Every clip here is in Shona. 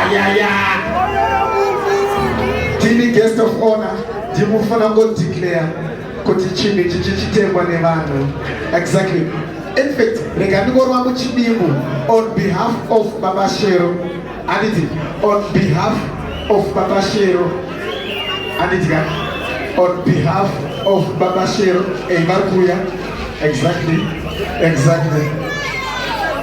ayaya tini guest of honor ndimufana ngodeclare kuti chinhu ichi chichitengwa nevanhu exactly in fact rega ndingorwa muchidimbu on behalf of baba shero anditi on behalf of baba shero anditi ka on behalf of baba shero ei vari kuuya exactly exactly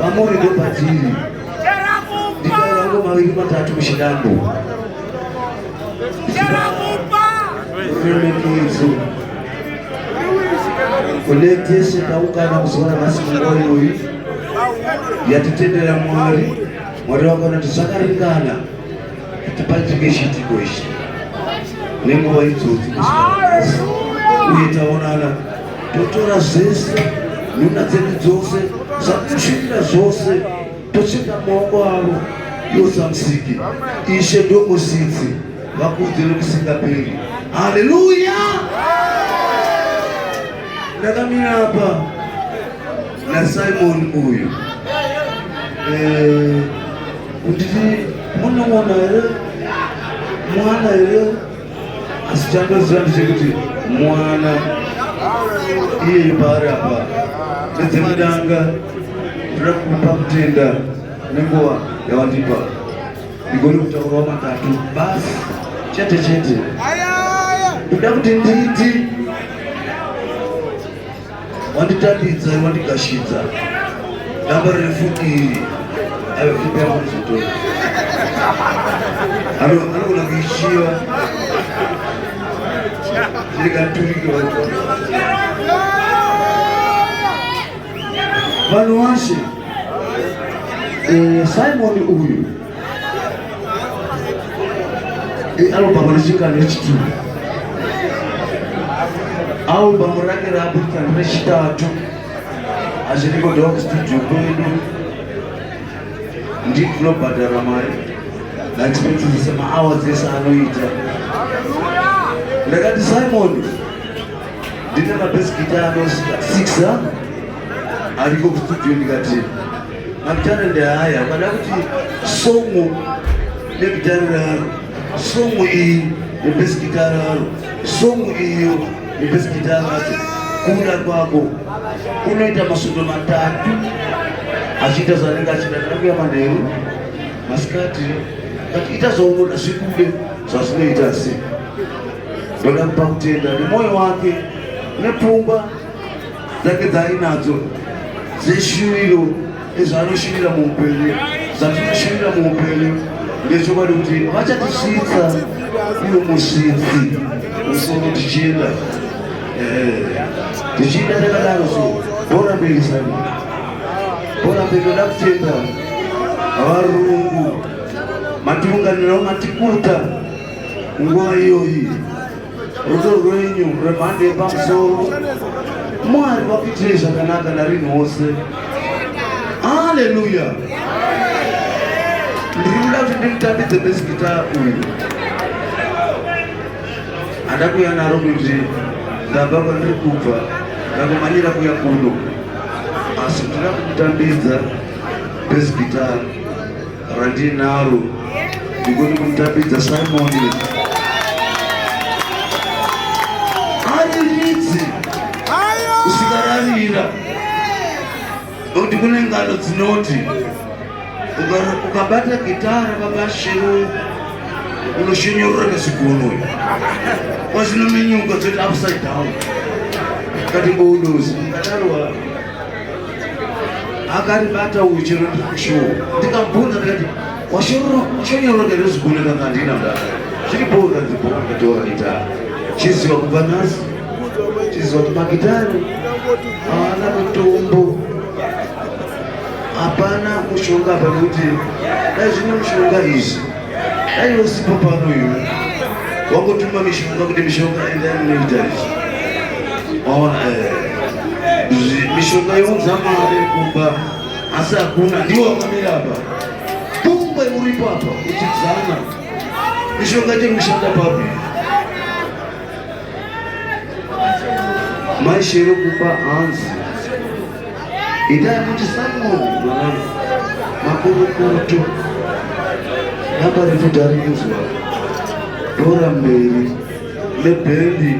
Mamuri ndopadziri. Ndikarango maviri matatu muchinambo. Remekedzo. Kune tese taungana kuzora nhasi munguva iyoyi yatitendera Mwari. Mwari vakanoti zvakaringana. kuti paitike chiitiko ichi nenguva idzodzi uye taonana totora zvese nhuna dzedu dzose zvakusvirira zvose tocheka maoko avo yosamusiki ishe ndomusitsi vakudzire kusingaperi haleluya ndakamira apa na Simon uyu eh, kutiti munowona here mwana here asi chandoziva ndechekuti mwana iye paari apa nedzekudanga ndoda kupa kutenda nenguva yawandipa ndigone kutaurawo matatu basi chete chete ndoda kuti nditi wanditambidza wandigashidza damba refu iri aefupeamuzuto anogona kuishiva ndikaturike vanhu vanhu washe eh, simoni uyu ialbhamu richinga nechituru albhamu range raburitsa rechitatu hazviri kudiwa kustudio kwedu ndii tinobhadhara mari ndatipedzisisa maawa dzese anoita ndakati simon ndine mabhesi gita ano six ariko kustudio ndikati Matare ndehaya ukada kuti somo negitare raro somo iyi nebhesigita raro somo iyo nebhesigita racho kuda kwako unoita masundo matatu achiita zvanenge achida kana kuya manheru masikati kati ita zvaunoda zvikude zvazvinoita se ndoda kupa kutenda nemwoyo wake nepfungwa dzake dzaainadzo dzeshuviro nezvaanoshuvira muupenyu zvatinoshuvira muupenyu ndechokwadi kuti vachatisvitsa iwo musvitsi musoro tichienda tichienda takadaro so bora mberi sani bora mberi toda kutenda varungu matiunganirawo matikuta nguva iyoyi rudo rwenyu rwemhando yepamusoro mwari vakuitirei zvakanaka narini wose haleluya ndiri kuda kuti ndimutambidze besikita uyu andakuya naro kuti ndabva kwandiri kubva ndakumanyira kuya kuno asi ndira kumutambidza besikitaro randinaro ndikuti kumutambidza simoni ari ridzi usikararira nokuti kune ngano dzinoti ukabata gitara babashiro unoshinyorora nezigunoyo kwazvino menyuka dzoti upside down kati boudozi akaribata uyu chero ndishuwo ndikabvunza ndikati washonyora ndere ziguna kanga handina mdaka zviri bhoo kanzi bhoo ndatoa gitara chiziva kubva nhasi chiziva kuti magitari haana mutombo hapana mushonga apa nekuti dai zvine mushonga izvi Dai usipo pano iwe. Wakutuma mishonga kuti mishonga enda inoita izvi. Waona eh. Mishonga younza mari kumba asi hakuna ndiwo wakamira apa. Kumbe uripo apa uchidzana. Mishonga chekushanda papi? maishero kumba hanzi itai kuti samoni mwanangu makurukuto naparefu tarikunzwa dora mberi nebhendi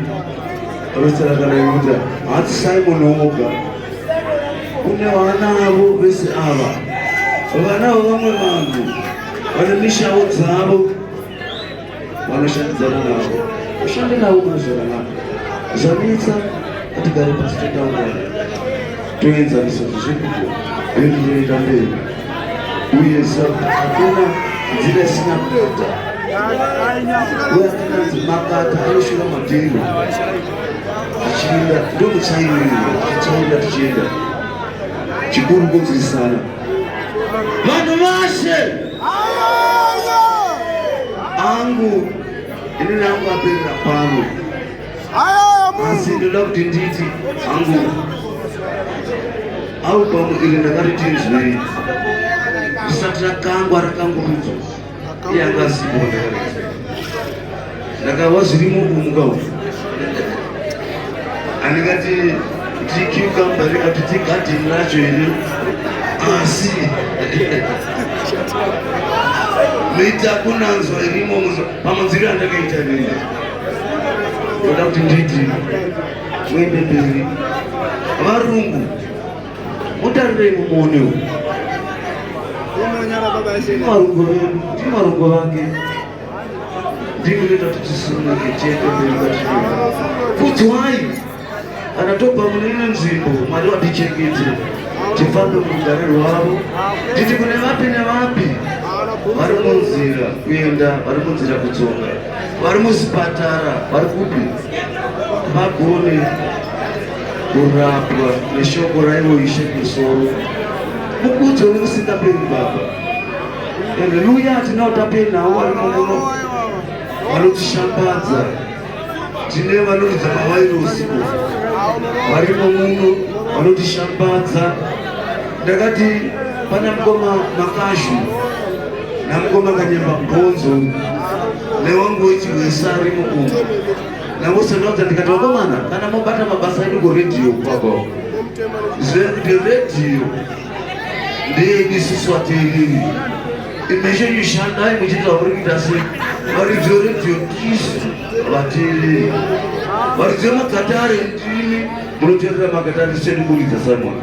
rosarakana yuda hati simoni oga kune vana avo vese ava vana vavamwe vanhu vane mishawo dzavo vanoshandidzana navo ushande navo mune zvakanaka zvanetsa atigare pasi totaura toenzanisa zvizvekuko bendi rinoita mberi uye hakuna nzira isina kuita uye akananzi makata anoshura madhiri achienda ndokuchairira achienda tichienda chikuru kunzwisana Vanhu vashe angu ini nangu aperera pano asi ndoda kuti nditi angu au pamwe iri ndakati tinzwei risati rakangwa rakangurudzwa yanga asipo ndakava zvirimo kumuka uku andikati tikiukamba ndikati tigadhini racho ini asi mita kunanzwa irimo pamunziri andakaita nini ndoda kuti nditi muende mberi varungu mutarirei mumuone uyu ndimarungo vake ndimi noita kuti tisununge tiende mberi kudzwai kana tobva mune imwe nzvimbo mwari vatichengete tifambe murugare rwavo nditi kune vapi nevapi vari munzira kuenda vari munzira kudzoka vari muzvipatara vari kupi vagone Kurapwa neshoko raivo Ishe musoro mukudzo nekusingaperi Baba. Haleluya, tinao tapenawo vari muno vanotishambadza, tine vanoridza mavairosi varimo muno vanotishambadza. Ndakati pana mukoma Makashu namukoma Kanyemba Mbonzo newangu wechiwesa arimo umu Nangose ndonza ndikati vakomana kana mobata mabasa edu kuredhiyo kwako zvekuti redhiyo ndeyedu isusu vateereri imeshe ishandai muchiita kuri kuita sei varidzi veredhiyo tisu vateereri varidzi vemakatare ndimi munoteerera makatare seni kuridza samona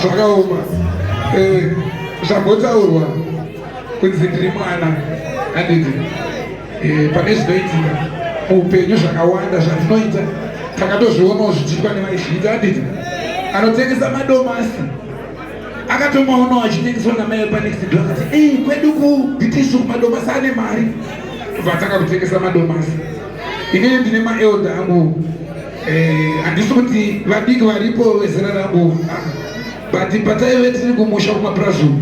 zvakaoma eh, zvambotaurwa kunzi ndiri mwana handiti eh, pane zvinoitika muupenyu zvakawanda zvatinoita takatozvionawo zvichiitwa nevaizviita handiti anotengesa madomasi akatomaonawo achitengeswa namai panexidwa akati ei eh, kwedu kubitisu madomasi ane mari vatanga kutengesa madomasi inini ndine maelda angu Eh, handisi kuti vabiki varipo vezera rangu but pataive tiri kumusha kumapurazi uku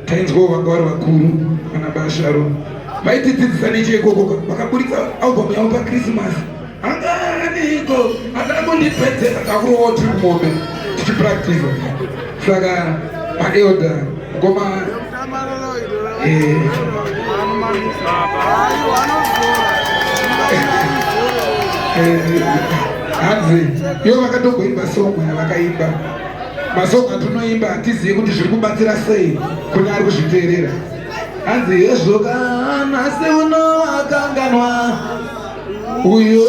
tainzwawo vanga vari vakuru kana basharo vaitidzidzisa necheikoko vakaburitsa album yavo pakrisimasi anganiko atana kundipedzera takurovawo tiri kumombe tichipractisa saka maelda ngoma hanzi iyo vakatomboimba song yavakaimba masonga tunoimba hatizivi kuti zviri kubatsira sei kune ari kuzviteerera hanzi hezvo kana seuno akanganwa uyo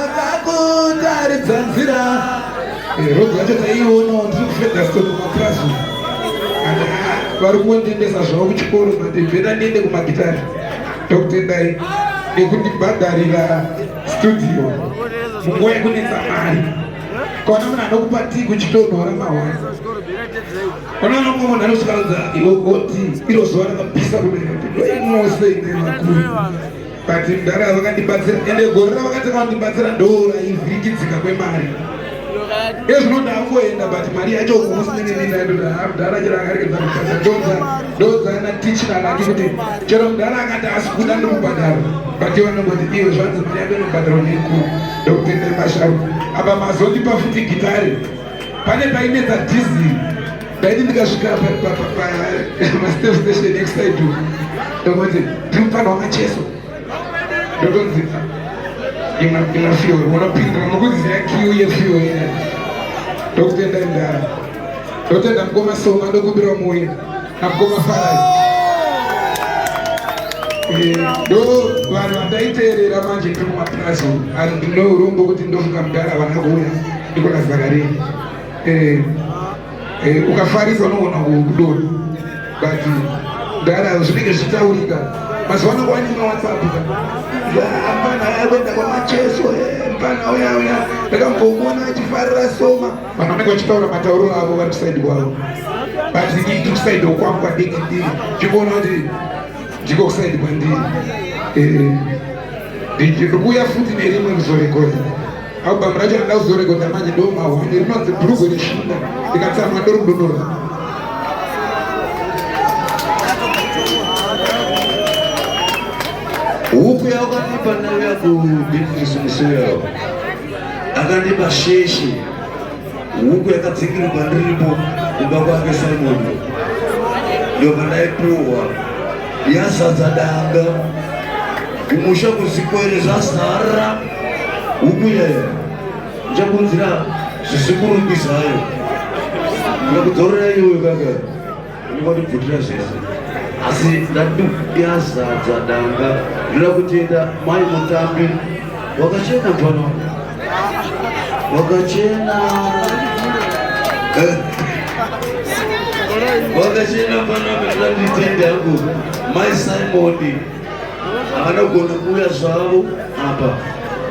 akakutaridza nzira rogo yacho taiiona ndikufedasco kumapurazi vari kundendesa zvavo kuchikoro mati vhera ndiende kumagitari ndokutendai nekundibhadharira studio munguva yekunetsa mari kona munhu anokupa ti kuchitonhora mahwani ona nomwe munhu anosvikaudza iwe oti iro zuva rakapisa kudaimose ine makuru But mdara vakandibatsira ende gore ravakati vandibatsira ndora ivhirikidzika kwemari ezvinoda angoenda but mari yacho kumusnenenendaamdara chero akarekeza kubhadhara ndodza ndodza ana tichina nati kuti chero mdara akati asi kuda ndokubhadhara but vanongoti iwe zvanzi mari yako inobhadharwa nekuru ndokutendera masharu apa mazondipa futi gitare pane painetsa dhizili ndaiti ndikasvika pastep station next side to ndokonzi tiri mufana wamacheso ndokonzi ina fuel unopindira nokuziya kiu yefuel ina ndokutenda ndara ndotenda mukoma soma ndokumbira muya namukoma farai eh, ndo vanhu vandaiteerera manje ndiri kumapurazi and ndinourombo kuti ndofunga mudhara vana kuuya ndikona zakarini eh, eh, ukafarisa unoona kudoni but ndara zvinenge zvichitaurika mazuva ano kwani mawhatsapp mfana ayakwenda kwamacheso eh, mfana uya uya ndakambomuona achifarira soma vanhu vanenge vachitaura matauro avo vari kusaidi kwavo but ini kusaidi kwangu kwadiki ndiri ndikuona kuti ndiko kusaidi kwandiri eh, ndikuuya futi nerimwe kuzorekoda Album racho rinoda kuzorekodha manje ndomahwani rinonzi bhurugwe reshinda ndikatsamwa ndorudonora huku yawakandipa nayo yakubizinesi musoro yawo akandipa sheshe huku yakadzingirwa kwandiripo kumba kwake simoni ndovanaipuwa yazadza danga kumusha kuzikwerezvazara Upi yaya njakunzira zvisikuru mbizayo ndakudzorera iwe kaka ndikatibvutira zvese asi ndati yazadza danga ndoda kutenda mai mutambi wakachena mfana wakachena wakachena mfana ndanditende hangu mai simoni vanogona kuuya zvavo apa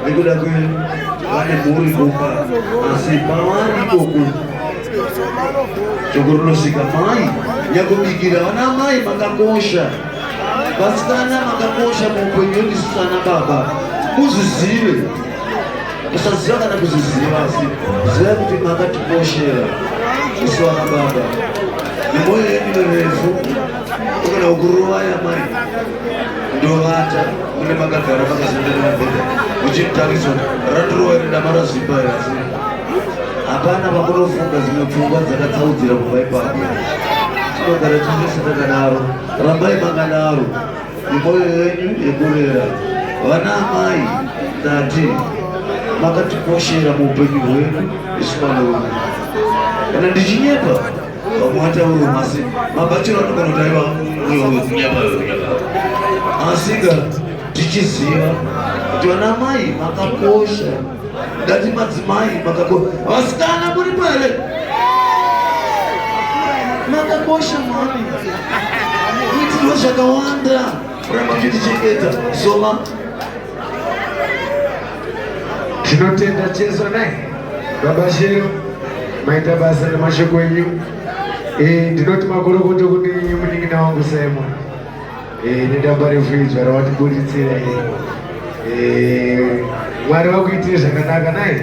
nekuda kwe vane mhuri kumba asi pavari ikoku shoko rinosvika mai nyakubikira vana mai makakosha vasikana makakosha muupenyu wendisu sana baba muzvizive musaziva kana kuzviziva asi zivai kuti makatikoshera isu vana baba nemoyo yedu refu Ukana ukuruwa ya mari ndovata mune makagara makazendera mabhedha uchitariswa raturuwa iri dama razvimba iri asi hapana pakunofunga dzimwe pfungwa dzakatsaudzira kubva ipapo tinogara tichese takadaro rambai makadaro nemoyo yenyu yekurera vana amai ndati makatikoshera muupenyu hwedu isu vanoona kana ndichinyepa vamwe vataura masi mabachiro anogona kuti aiva mwoyo wekunyama wekunyama asika tichiziva kuti vana mai makakosha ndati madzimai makakosha vasikana muri pale makakosha mami itirwo zvakawanda kuramba tichichengeta soma Tinotenda Jesu naye baba Shero, maita basa nemashoko enyu. Eh, ndinoti makorokoto kune munin'ina wangu Simon. Eh, nedamba refu idzva rawatiburitsira iri. Eh, Mwari vakuitire zvakanaka naye.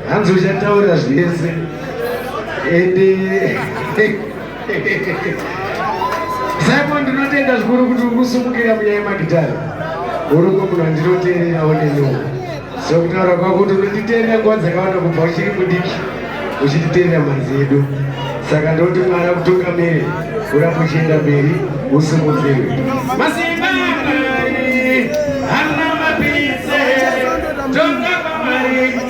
Hanzi uchataura zvese. Ende Saipo ndinotenda zvikuru kuti uri kusumukira munyaya yemagitare uri kumunhu andinoteererawo nenyoo so kutaura kwako kuti unonditeerera nguva dzakawanda kubva uchiri mudiki uchititeerera manzi edu saka ndoti mwana kutungamire uramba uchienda mberi usimudzirwe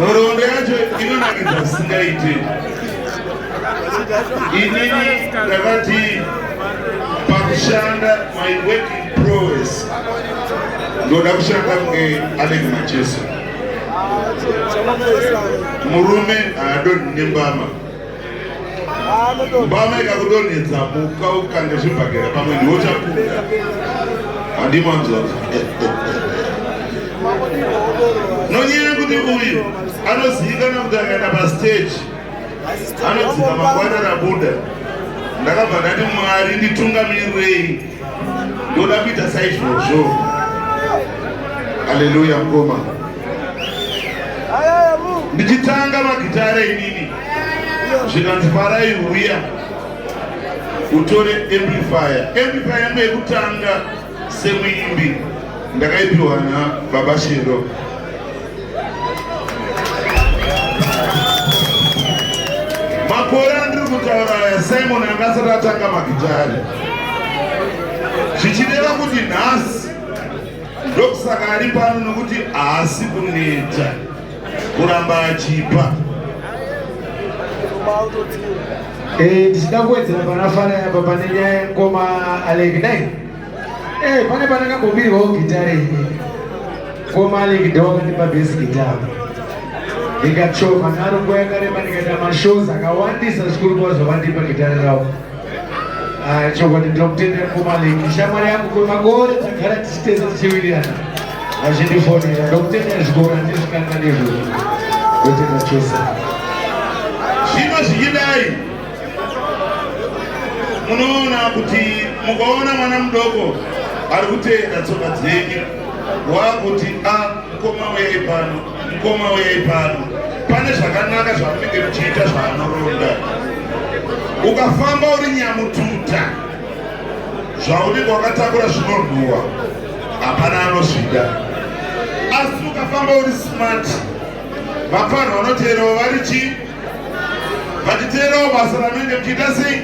nhoroondo yacho inonakidza zvisingaite inini ndakati pakushanda my working prowess ndoda kushanda kunge alex macheso murume haadonhi nembama mbama ikakudonhedza muka ukange zvibhagera pamwe ndiwo chakuda handimanzora nonyaya yekuti uyu anozivikana kuti akaenda pastage anodzika makwana rabuda ndakabva ndati mwari nditungamirirei ndoda kuita saizvozvo aleluya mkoma ndichitanga magitare inini zvikanzi farai uya utore amplifier amplifier yangu yekutanga semuimbi ndakaipiwa na baba shero makore andiri kutaura aya simon anga asati atanga magitari zvichireva kuti nhasi ndokusaka ari pano nokuti haasi kuneta kuramba achipa eh, ndichida kuwedzera pana fana yapa pane nyaya yemukoma aleki dai eh, pane pane kambobirwawo gitare ini mukoma aleki dawakandipa besi gitare ndikachova naro nguva yakareba ndikaita mashows akawandisa zvikuru kwazvo vandipa gitare ravo Ah, chokwadi ndinokutendera mukoma leki shamwari yangu kwemakore tagara tichiteza tichiwirirana vachindifonera ndokutendera zvikoro andizvikanga nezvo ndotenda chose zvino zvichidai munoona kuti mukaona mwana mudoko ari kutenda tsoka dzenyu wakuti a ah, mukoma wei pano Mukoma uyei pano, pane zvakanaka zvamunenge muchiita zvaanoronda. Ukafamba uri nyamututa, zvaunenge wakatakura zvinorwiwa, hapana anozvida. Asi ukafamba uri smart, vafanha vanoteerawo vari chii? vakiteerawo basa ravanenge muchiita sei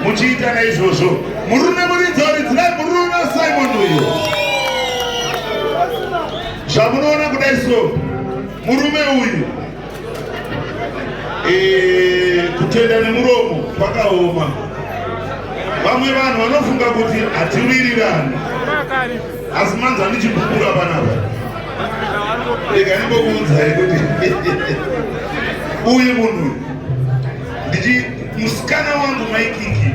muchiita naizvozvo murume muridza uridzirai murume simon uyo zvamunoona kudai so murume uyu eh, kutenda nemuromo kwakaoma vamwe vanhu vanofunga kuti hatiwirirani Asi manzi andichibubura panapa. Ndega ndimbokuudzai kuti uyu munhu ndichi musikana wangu maikiki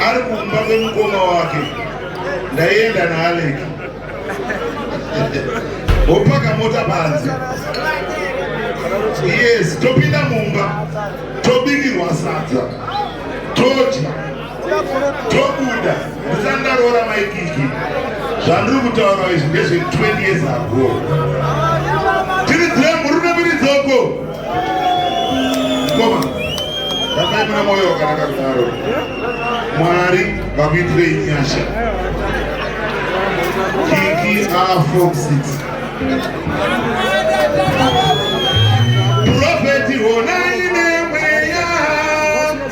ari kumba kwemukoma wake ndaienda naAlec wopaka mota panze yes topinda mumba tobikirwa sadza todya tobuda ndisati ndaroora maikiki zvandiri kutaura izvi ndezve 20 years ago tiridzire murume miridzoko koma rambai mune mwoyo wakanaka kudaro mwari vakuitirei nyasha kiki afoxit profeti honai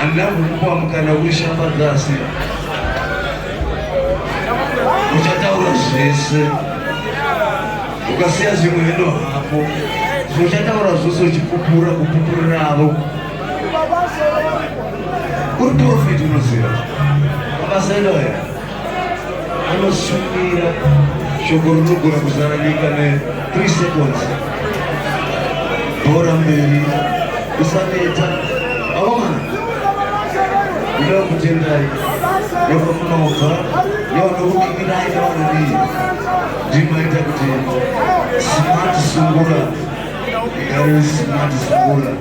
Handina kukupa mukana kuishambadza asi uchataura zvese ukasiya zvimwe hendo hako zvochataura zvose uchipupura kupupura navo uri profit unoziva mabasa edoya anosumira shoko rinogona kuzara nyika ne 3 seconds bhora mberi usaneta aomana ndinoda kutendai nevamunobva nevanokukikirai nevanadii ndimaita kuti smart sungura igare smart sungura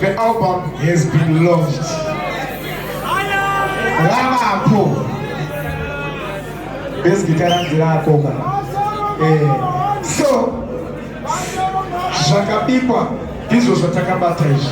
the album has been launched. Ramapo. This guitar and guitar cover. Eh, so, zvakabikwa ndizvo zvatakabata izvi